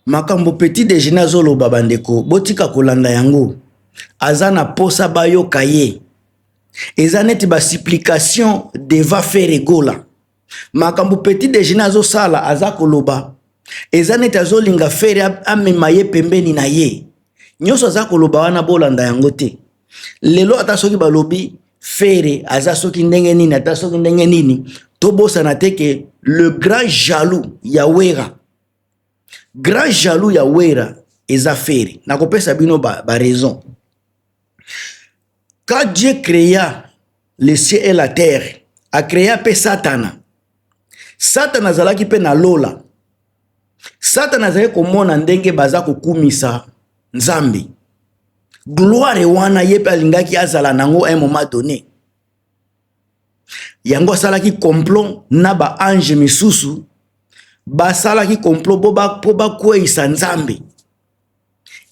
Makambo petit dejeuner azo loba ba ndeko bo tika ko landa yango, aza na posa ba yoka ye. Eza neti ba supplication devant Ferre gola. Makambo petit dejeuner azo sala aza ko loba eza neti azo linga Ferre a mema ye pembeni na ye. Nioso aza ko loba wana bo landa yango te. lelo ata soki balobi fere aza soki ndenge nini ata soki ndenge nini tobosana te ke le grand jaloux ya wera grand jaloux ya wera eza fere nakopesa bino baraison ba, ba Quand Dieu créa le ciel et la terre, a créa mpe Satana. Satana azalaki mpe na lola. Satana azali komona ndenge baza kokumisa Nzambe. Gloire wana ye mpe alingaki azala nango un moment donné. Yango asalaki complot na ba ange misusu basalaki complot mpo bakweisa Nzambe.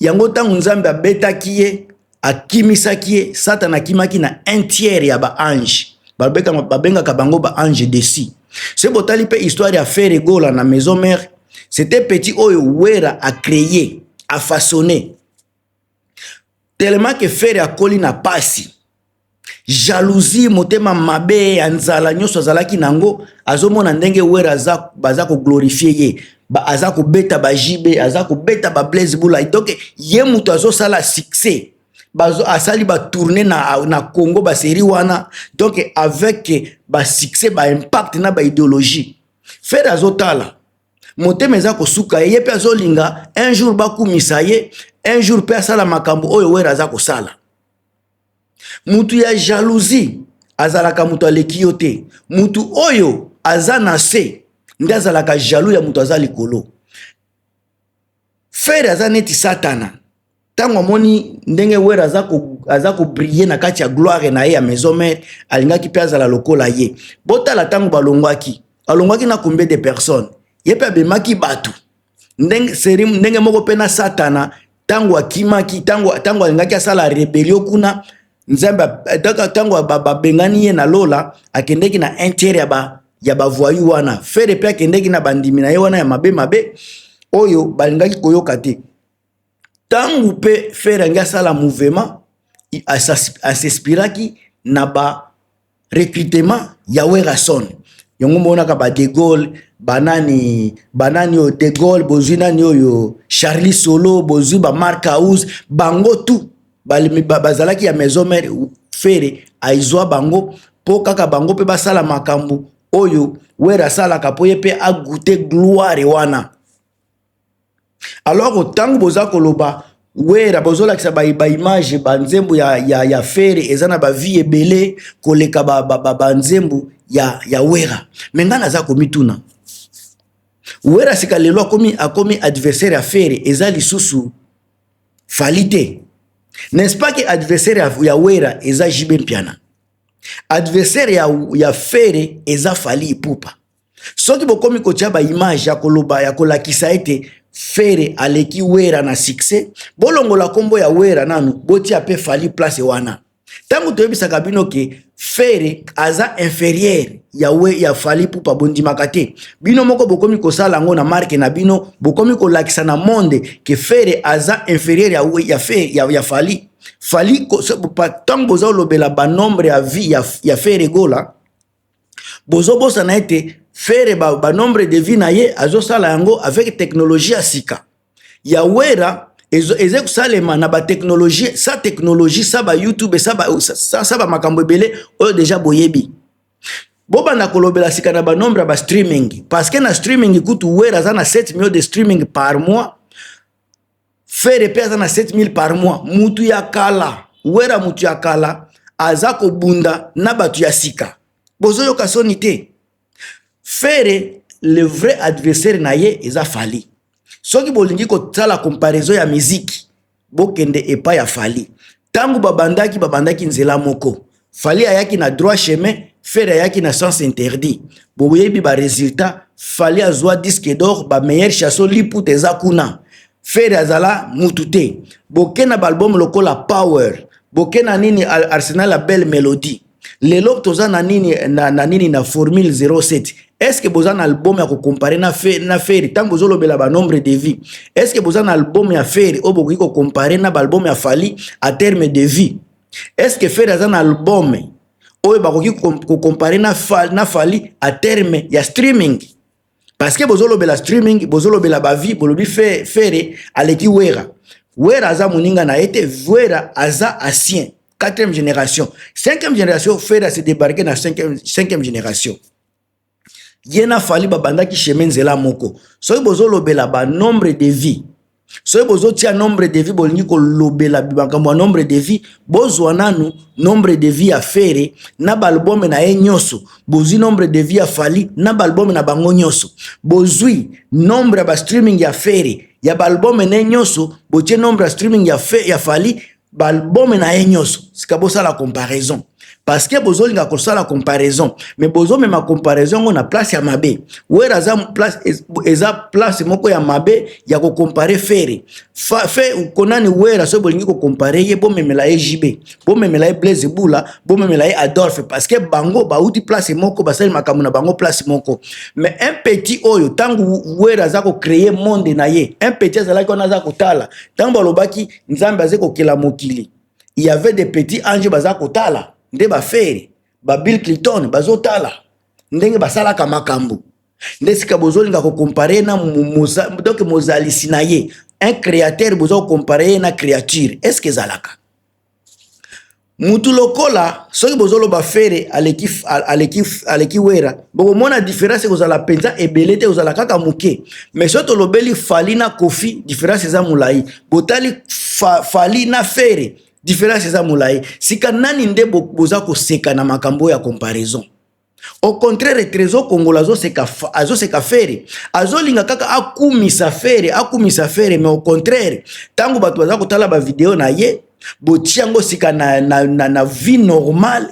yango ntango nzambe abetaki ye akimisaki ye satana akimaki na un tiers ya baange babengaka bango baange desi se botali mpe histoire ya fere egola na maison mare c'était petit oyo wera acreye afaçonne tellement que fere akoli na pasi jalousie motema mabe ya nzala nyonso azalaki na yango azomona ndenge were aza baza koglorifie ye ba, aza kobeta ba jb aza kobeta ba blaise bulai donc ye moto azosala succès bazo asali ba tourner na, na congo baserie wana donc avec ba succès ba impact na ba idéologie fere azotala motema eza kosuka ye ye mpe azolinga un jour bakumisa ye un jour mpe asala makambo oyo were aza kosala mutu ya jalousie azalaka mutu aleki yo te mutu oyo aza na se nde azalaka jaloux ya mutu aza likolo fere aza neti satana ntango amoni ndenge were aza ko aza kobrille na kati ya gloire na ye ya maison mare alingaki mpe azala lokola ye botala ntango balongwaki alongwaki na combien de personnes ye mpe abemaki bato ndenge seri ndenge moko mpe na satana ntango akimaki ntango alingaki asala rebelio kuna nzambe ntango babengani ye na lola akendeki na intere ya bavoyu wana fere mpe akendeki na bandimi na ye wana ya mabe mabe oyo balingaki koyoka te tangu pe ferre alingi asala mouvement a s'inspiraki na ba recrutement ya werrason yango omonaka ba de Gaulle ba nani ba nani oyo de Gaulle bozui nani oyo Charly solo bozui ba marc house bango tout bazalaki ya maison mère ferre azua bango po kaka bango pe basala makambu oyo werra asalaka po ye pe a gouter gloire wana alors ntango boza koloba wera bozolakisa baimage ba banzembo ya, ya, ya fere eza na bavie ebele koleka banzembo ba, ba, ba ya, ya wera me ngai naza komituna wera sika lelo akomi, akomi adversaire ya fere eza lisusu fali te n'est-ce pas que adversaire ya, ya wera eza jibe mpiana adversaire ya, ya fere eza fali ipupa soki bokomi kotya baimage ya koloba ya kolakisa ete fere aleki wera na succès bolongola nkombo ya wera nanu botia mpe fali place wana ntango toyebisaka bino ke fere aza inferieur ya, we, ya fali pupa bondimaka te bino moko bokomi kosala yango na marke na bino bokomi kolakisa na monde ke fere aza inferieur ya, we, ya, fe, ya, ya fali fali ntango boza olobela banombre ya vie ya, ya fere gola bozobosana ete fere ba, ba nombre de vie na ye azosala yango avec technologie ya sika ya wera eza kosalema na batechnologie sa technologie sa ba youtube sa ba, sa, sa ba makambo ebele oyo deja boyebi bobanda kolobela sika na banombre ya bastreaming parce que na streaming kutu wera aza na 7 million de streaming par mois fere mpe aza na 7000 par mois mutu ya kala wera mutu ya kala aza kobunda na bato ya sika bozoyoka soni te fere le vrai adversaire na ye eza fali soki bolingi kosala comparaison ya miziki bokende epai ya fali ntango babandaki babandaki nzela moko fali ayaki na droit chemin fere ayaki na sens interdit boyebi ba résultat fali azwa disque d'or ba meilleur chasso liputa eza kuna fere azala mutu te boke na baalbum lokola power boke na nini arsenal ya belle melodie lelo toza na nini na, na nini na formule 07 est-ce que boza na album ya kocompare na, fe, na feri ntango bozolobela banombre de vie est-ce que boza na album ya feri oyo bokoki kocompare na baalbum ya fali a terme de vie est-ce que Ferre aza na album oyo bakoki ko comparer na Fally na Fally à terme ya streaming parce que bozo lobela streaming bozo lobela ba vie bolobi Ferre aleki Wera Wera aza muninga na ete Wera aza ancien quatrième génération cinquième génération Ferre se débarquer na cinquième cinquième génération ye na fali babandaki chemin nzela moko soki bozolobela ba nombre de vie soki bozotia nombre de vie bolingi kolobela makambo ya nombre de vie bozwa nanu nombre de vie ya fere na baalbome na ye nyonso bozwi nombre de vie ya fali na baalbome na bango nyonso bozwi nombre ya bastreaming ya fere ya baalbome na ye nyonso botie nombre ya streaming ya, fe, ya fali baalbome na ye nyonso sika bosala comparaison parce que bozolinga kosala comparaison mais bozomema comparaison yango na place ya mabe wera aza place eza place moko ya mabe ya kocompare fere fe konani wera soki bolingi kocompare ye bomemela ye jb bomemela ye blaise bula bomemela ye adolphe parce que bango bauti place moko basali makambo na bango place moko mais un petit oyo ntango wera aza kocreye monde na ye un petit azalaki wana aza kotala ntango balobaki nzambe aza kokela mokili il y avait des petits anges baza kotala nde bafere ba bill clinton bazotala ndenge basalaka makambo nde sika bozolinga kokompare na moza, donc mozalisi na ye un créateur boza kokompare ye na créature est ce que ezalaka mutu lokola soki bozoloba fere aleki, aleki, aleki wera bokomona diference ekozala mpenza ebele te ozala kaka moke mais soki tolobeli fali na kofi diference eza molai botali fa, fali na fere diference eza molai sika nani nde boza koseka na makambo ya comparaison au contraire trésor kongola azoseka azoseka fere azolinga kaka akumisa fere akumisa fere mais au contraire ntango bato baza kotala bavideo na ye botia yango sika na, na, na, na vie normale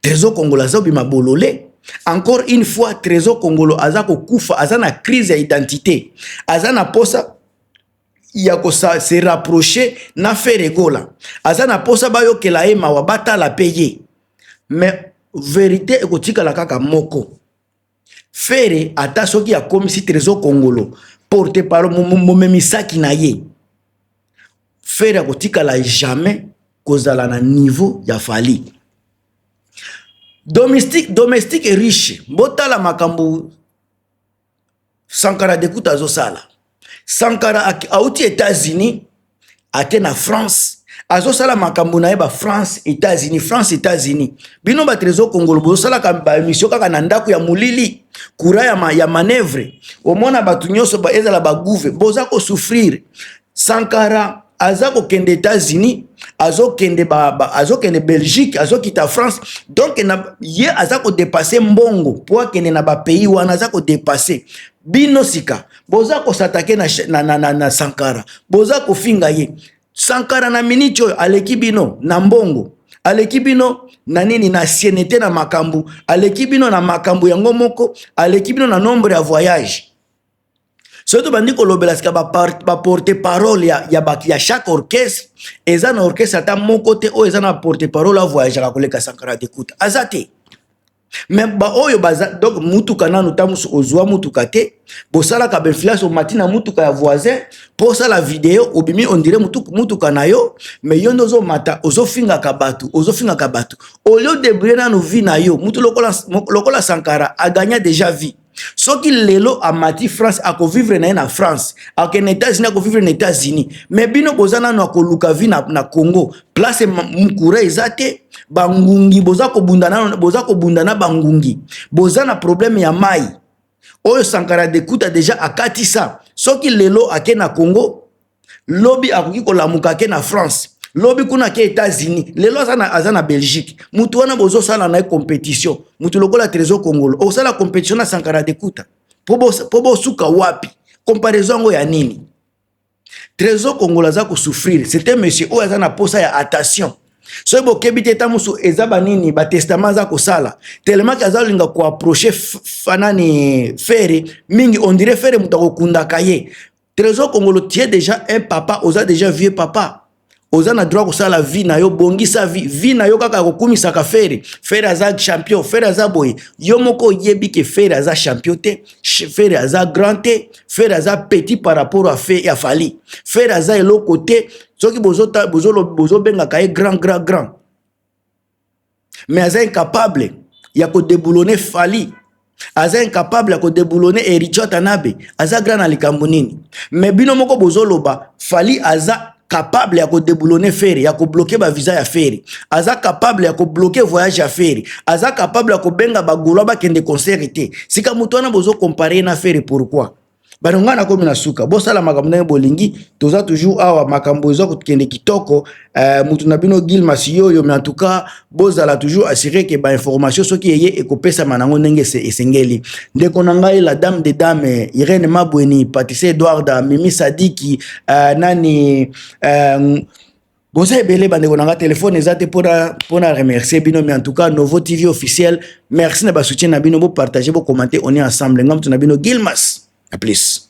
trésor kongola azobima bolole encore une fois trésor kongolo aza kokufa aza na crise ya identité aza na posa ya ko se rapprocher na Ferre Gola aza na posa bayokela ye mawa batala pe ye mais verite ekotikala kaka moko Ferre ata soki akomisi Trésor Kongolo porte parole momemisaki na ye Ferre akotikala jamais kozala na niveau ya Fally domestique domestique riche botala makambo sankara dekuta azosala sankara auti etats-unis ake na france azosala makambo na ye ba france etats-unis france etats-unis bino bato ezokongolo bozosalaka baemission kaka na ndako ya molili courant ya, ma, ya manevre omona bato nyonso ezala bagouve boza kosouffrire sankara aza kokende états-unis azokende azokende belgique azokita france donc na, ye aza kodepasse mbongo mpo akende na bapays wana aza kodepasse bino sika boza kosatake na, na, na, na, na sankara boza kofinga ye sankara na miniti oyo aleki bino na mbongo aleki bino na nini na sienete na makambo aleki bino na makambo yango moko aleki bino na nombre ya voyage soki tobandi kolobela sika baporte parole ya, ya, ba, ya chaque orchestre eza na orchestre ata moko te oyo eza na porte parole avoyageaka koleka sankara dekuta aza te me baoyo baza donc motuka nanu ntango mosusu ozwa motuka te bosalaka bainfluence omati na motuka ya voisin mpo osala video obimi ondire motuka na yo me yo nde ozomata ozofingaka bato ozofingaka bato olio debrie nanu vie na yo motu lokola, lokola sankara agagna deja vie soki lelo amati france akovivre na ye na france akokende états-unis akovivre na états-unis me bino boza nano akoluka vi na, na congo place mokura eza te bangungi boza kobunda nano boza kobunda na bangungi boza na problème ya mai oyo sankara dekuta deja akatisa soki lelo ake na congo lobi akoki kolamuka ake na france lobi kuna ake états-unis lelo aza na, aza na belgique mutu wana bozosala na ye compétition mutu lokola trésor kongolo okosala compétition na sankara dekuta mpo bosuka wapi comparaison yango ya nini trésor kongolo aza kosouffrir c'est un monsieur oyo aza na mposa ya attention soki bokebi te ntango mosusu eza banini batestament aza kosala telemaki aza kolinga koaproche fanani fere mingi ondire fere moto akokundaka ye Trésor Kongolo tu es déjà un papa, oza déjà vieux papa. Oza na droit kosala vie na yo, bongisa vie. Vie na yo kaka kokumisaka Ferre. Ferre aza champion, Ferre aza boye. Yo moko oyebi ke Ferre aza champion te, Ferre aza grand te, Ferre aza petit par rapport à Ferre ya Fally. Ferre aza eloko te, soki bozo bozo bozo benga kaye grand grand grand. mais aza incapable ya ko deboulonner Fally aza incapable ya ko deboulonner Heritier Tanabe aza grand na likambo nini mais bino moko bozoloba Fally aza capable ya kodeboulone fere ya kobloke bavisa ya fere aza capable ya kobloke voyage ya fere aza capable ya kobenga bagolwa bakende concert te sika moto wana bozokompare ye na fere pourquoi bano ngai nakomi na suka bosala makambo ndenge bolingi toza toujours awa makambo eza kokende kitoko eh, motu na bino gil masiyoyo mais en tout cas bozala toujours assure ke bainformation soki eye ekopesama nango ndenge esengeli ndeko na ngai la dame de dame irene mabweni patise edwarda mimi sadiki eh, nani eh, boza ebele bandeko na nga telefone eza te mpo na remercier bino mais en tout cas nouveau tv officiel merci na basoutien na bino bopartage bokomante on est ensemble nga moto na bino gilmas na plus